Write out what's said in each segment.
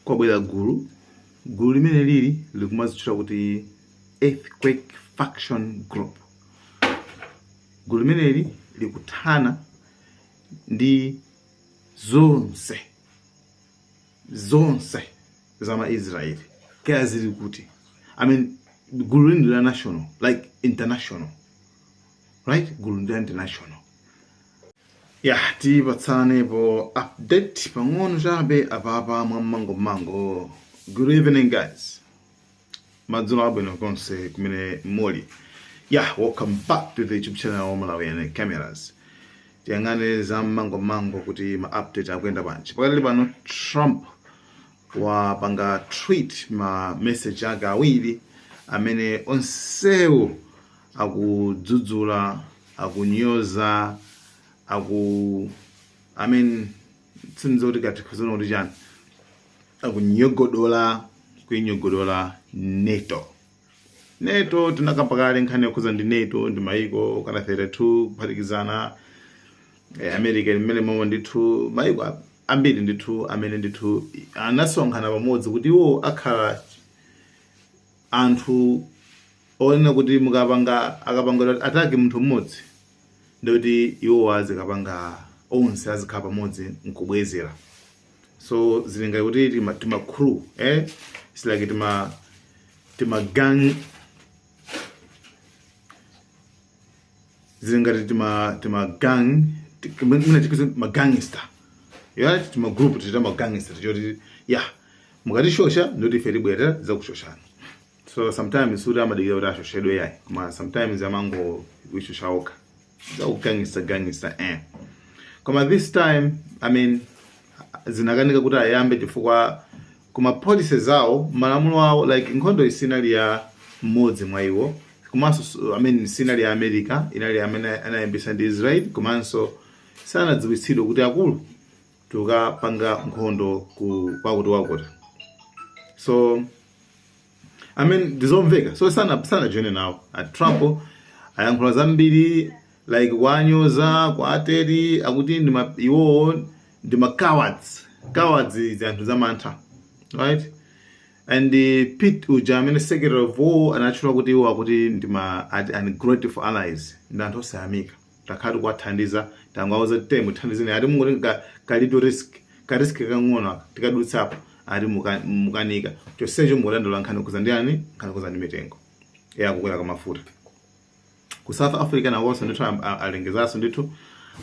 kwabwera gulu gulu limene lili likumazitchula kuti earthquake faction group gulu limeneli likuthana ndi zonse zonse za maisraeli kaya zili kuti i mean gulu lini la national like international right gulu ndi international ya tipatsanepo update pang'ono chabe apapa mwa mmango mmango good evening guys madzulo abwino konse kumene muli ya yeah, welcome back to the youtube channel ya malawian cameras tiyang'ane za mmango mmango kuti ma update akuyenda bwanji pakadali pano trump wapanga tweet ma message ake awiri amene onsewo akudzudzula akunyoza aku I mean sindidziwa kuti kaya tizinena kuti chani akunyogodola kuinyogodola nato nato tinakamba kale nkhani yokhudza ndi nato ndi maiko okana 32 kuphatikizana eh, america limene momwe ndithu maiko a- ambiri ndithu amene ndithu anasonkhana pamodzi kuti iwo akhala anthu onena kuti mukapanga akapanga attack munthu mmodzi ndikuti iwo azikapanga onse azikhala pamodzi nkubwezera so zili ngati kuti tima, tima crew eh? It's like tima, tima gang zili ngati tima, tima gang ti- mwina tikuti ma gangster ya tima group ta ma gangster toti ya mukatishosha ndoti ife tibwera za kushoshana so sometimes suti amadikira kuti ashoshedwe yayi koma sometimes amangoishosha okha za u gangster gangster eh koma this time i mean zinakanika kuti ayambe chifukwa kuma policy zawo malamulo awo like nkhondo isinali ya mmodzi mwa iwo komanso i mean sinali ya america inali amene anayambisa ndi israel komanso sanadziwitsidwe kuti akulu tukapanga nkhondo ku kwakuti wakuti so I mean ndizomveka so sana sana join nawo a trump ayankhula zambiri like kuwanyoza kwa a teri akuti ndi ma- iwowo ndi ma cowards cowards zanthu zamantha right and uh, pete uja amene secretary of war anatchula kuti iwo akuti ndi ma at- ungrateful allies ndi anthu osayamika takhala tikuwathandiza tangowauza kuti temu thandizeni ati mungoti ka- kalitu risk ka risk kang'ono aka tikadutsapo ati muka- mukanika chonsecho mukudandaula nkhani yokhudzana ndi nkhani yokhudzana ndi mitengo ya kukwera kwa mafuta ku south africa nawonso ndithu am- a- alengezanso ndithu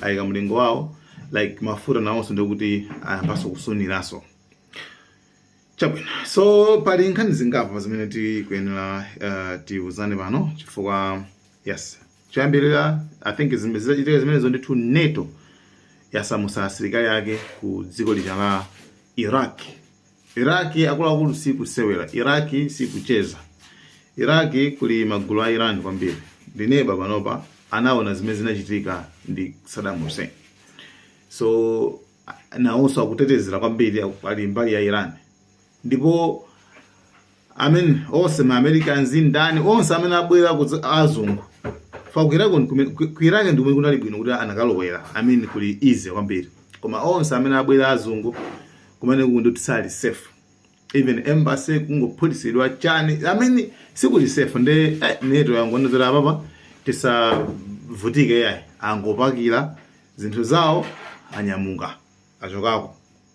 ayika mlingo wawo like mafuta nawonso ndikuti ayambanso kusuniranso chabwino so pali nkhani zingapo zimene tikuyenera uh, tiuzane pano chifukwa yes choyambirira i think zime- zitachitika zimenezo ndithu nato yasamusa asilikali yake ku dziko lija la iraq iraq akuluakulu si kusewera iraq si kucheza iraq kuli magulu a iran kwambiri ndi neba panopa anaona zimene zinachitika ndi saddam hussein so nawonso akutetezera kwambiri ali mbali ya iran ndipo I mean onse ma americans ndani onse amene abwera kudza- azungu fa ku Iraq ndikume- ku- ku iraq ndikumene kunali bwino kuti anakalowera i mean kuli easy kwambiri koma onse amene abwera azungu kumene kuti sali safe even embassy kungophulitsidwa chani i mean sikuli safe nde eh, nato yangoonetsera apapa tisavutike yayi angopakira zinthu zawo anyamuka achokako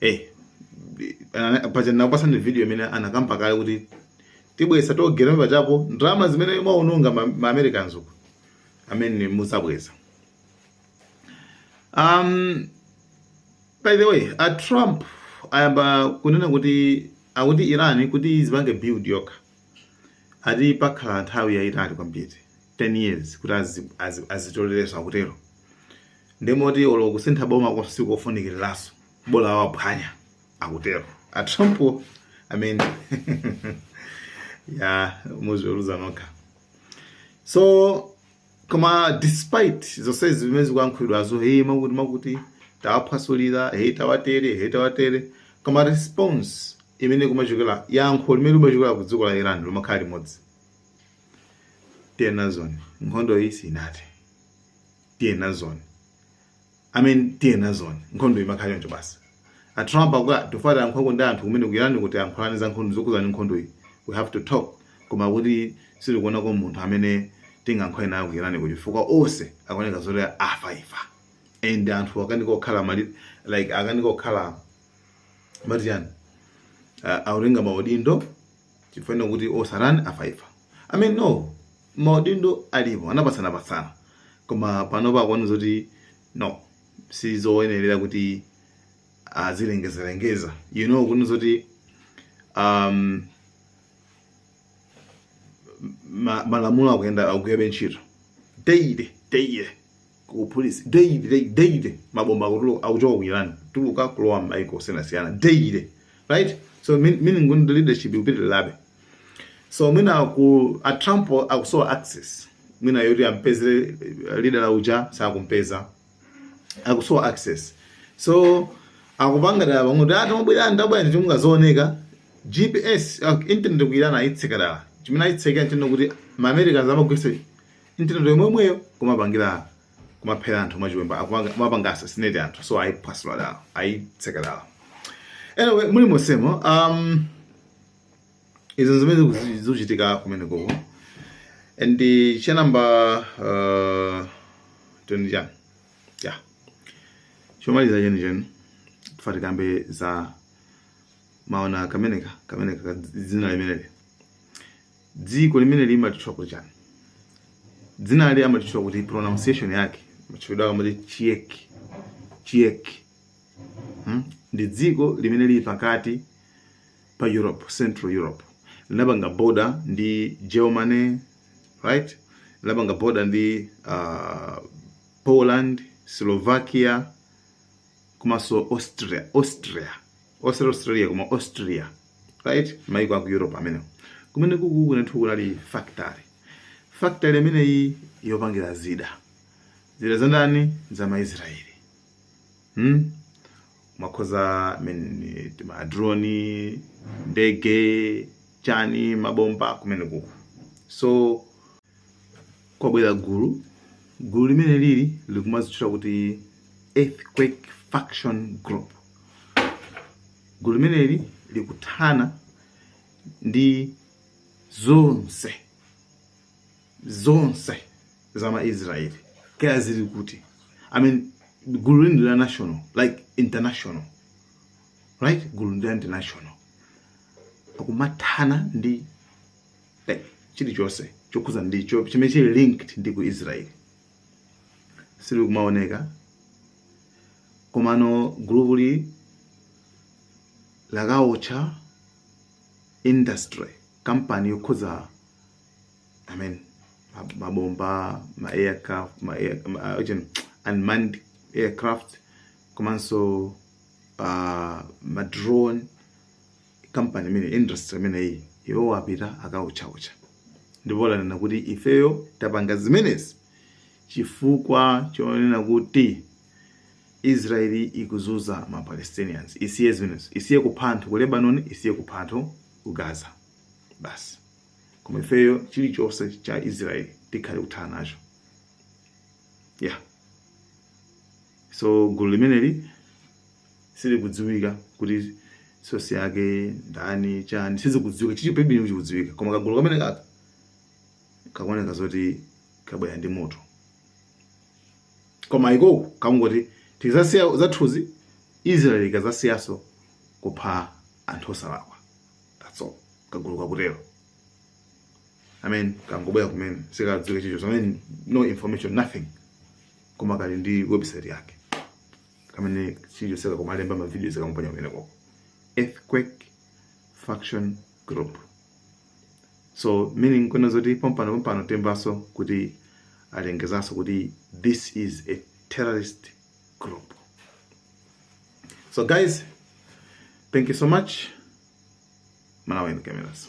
eh paja nakupatsani video imene anakamba kale kuti tibweza tolgate pachapo ndalama zimene mwaononga ma, ma Americans uko amene muzabweza um by the way a Trump ayamba kunena kuti akuti Iran kuti izipange build yokha ati pakhala nthawi yayitali kwambiri 10 years kuti adzitolerenso akutero ndemoti olo kusintha boma konse sikofunikiriranso bola waphwanya akutero a Trump I mean ya muziweruza nokha so koma despite zonse zimene zikuyankhulidwazo hey amakuti amakuti tawaphwasulira hey tawatere hey tawatere koma response imene kumachokera yankho limene limachokera ku dziko la Iran limakhala limodzi tiye nazoni nkhondo iyi sinathe tiye nazoni i mean tiye nazoni nkhondo imakhala choncho basi a trump akuti tifuna titha nkhondo ndi anthu kumene ku Iran kuti tiyankhulane za nkhondo zokhudzana nkhondo iyi we have to talk koma kuti sitikuonako munthu amene tingayankhule naye ku Iran kuti chifukwa onse akuoneka zoti afa afa and anthu akanika okhala mali like akanika okhala mati chani uh, akutenga maudindo chifukwa ino kuti osanena a FIFA i mean no maudindo alipo anapatsana patsana koma pano pakuona zoti no sizoyenerera kuti azilengezalengeza you know kuona zoti um, ma- malamulo akuyenda akugwirabe ntchito daily daily ku police daily daily daily mabomba akutuluka akuchoka ku Iran tuluka kulowa m'maiko osiyanasiyana daily right so mean- meaning kuti leadership ikupitirilabe so mwina ku a Trump akusowa access mwina yoti ampezere eh, leader la uja sakumpeza akusowa access so akupanga dala pamwe kuti ati mabwera ndabwera ndi chomwe kazooneka gps ah, internet ku Iran ayitseka dala chimene ayitsekera nchoti kuti maamericans amagwiritsa internet yomweyo kumapangira kumaphera anthu mwachiwemba akumanga- kumapanga assassinate anthu so ayiphwasula dala ayitseka dala anyway muli monsemo um, izo zimene zikuzi- zikuchitika kumene koko and uh, cha namba uh, teni chani ya chomaliza chenicheni tufuna ti kambe za maona kameneka kameneka ka dzina limeneli dziko limene limatchula kuti chani dzinali amalitchula kuti pronunciation yake matchulidwa akamati Czech Czech hmm? ndi dziko limene lili pakati pa europe central europe linapanga border ndi germany right linapanga border ndi uh, poland slovakia komanso austria austria osati australia koma austria right maiko aku europe amenewo kumene kuku kunathu kunali factory factory imeneyi yopangira zida zida za ndani za maisraeli hmm? amakonza men- madroni ndege chani mabomba kumene kuku so kwabwera gulu gulu limene lili likumazitchula kuti earthquake faction group Gulu limeneli likuthana ndi zonse zonse za ma Israel kaya zili kuti I mean gululi ndi la national like international right gulu ndi la international akumathana ndi like chilichonse chokhudzana ndi cho- chimene chili linked ndi ku Israel silikumaoneka komano gulupuli lakawotcha industry kampani yokonza i mean ma- mabomba ma aircraft ma air, ma, achani, unmanned aircraft komanso uh, ma drone kampani imene industry imeneyi iwo wapita akuotchaotcha ndipo lanena kuti ifeyo tapanga zimenezi chifukwa chonena kuti israeli ikuzuza ma palestinians isiye zimenezo isiye kupha anthu ku lebanon isiye kupha anthu ku gaza basi koma ifeyo chilichonse cha israeli tikhale kuthana nacho yeah so gulu limeneli silikudziwika kuti sosi yake ndani chani sizikudziwika chilichonse sichikudziwika koma kagulu kamene kaka kakuoneka zoti kabwera ndi moto koma ikoko kangoti tikazasiya zathuzi israeli ikazasiyaso kupha anthu osalakwa that's all kagulu kakutero amen kangobwera kumene sikadziwika chicho no information nothing koma kali ndi website yake kamene sichoseka kumalemba mavidiyo nkumaponya kumeneko earthquake faction group so meaning kunena zoti pompano pompano timvaso kuti alengezaso kuti this is a terrorist group so guys thank you so much malawi and cameras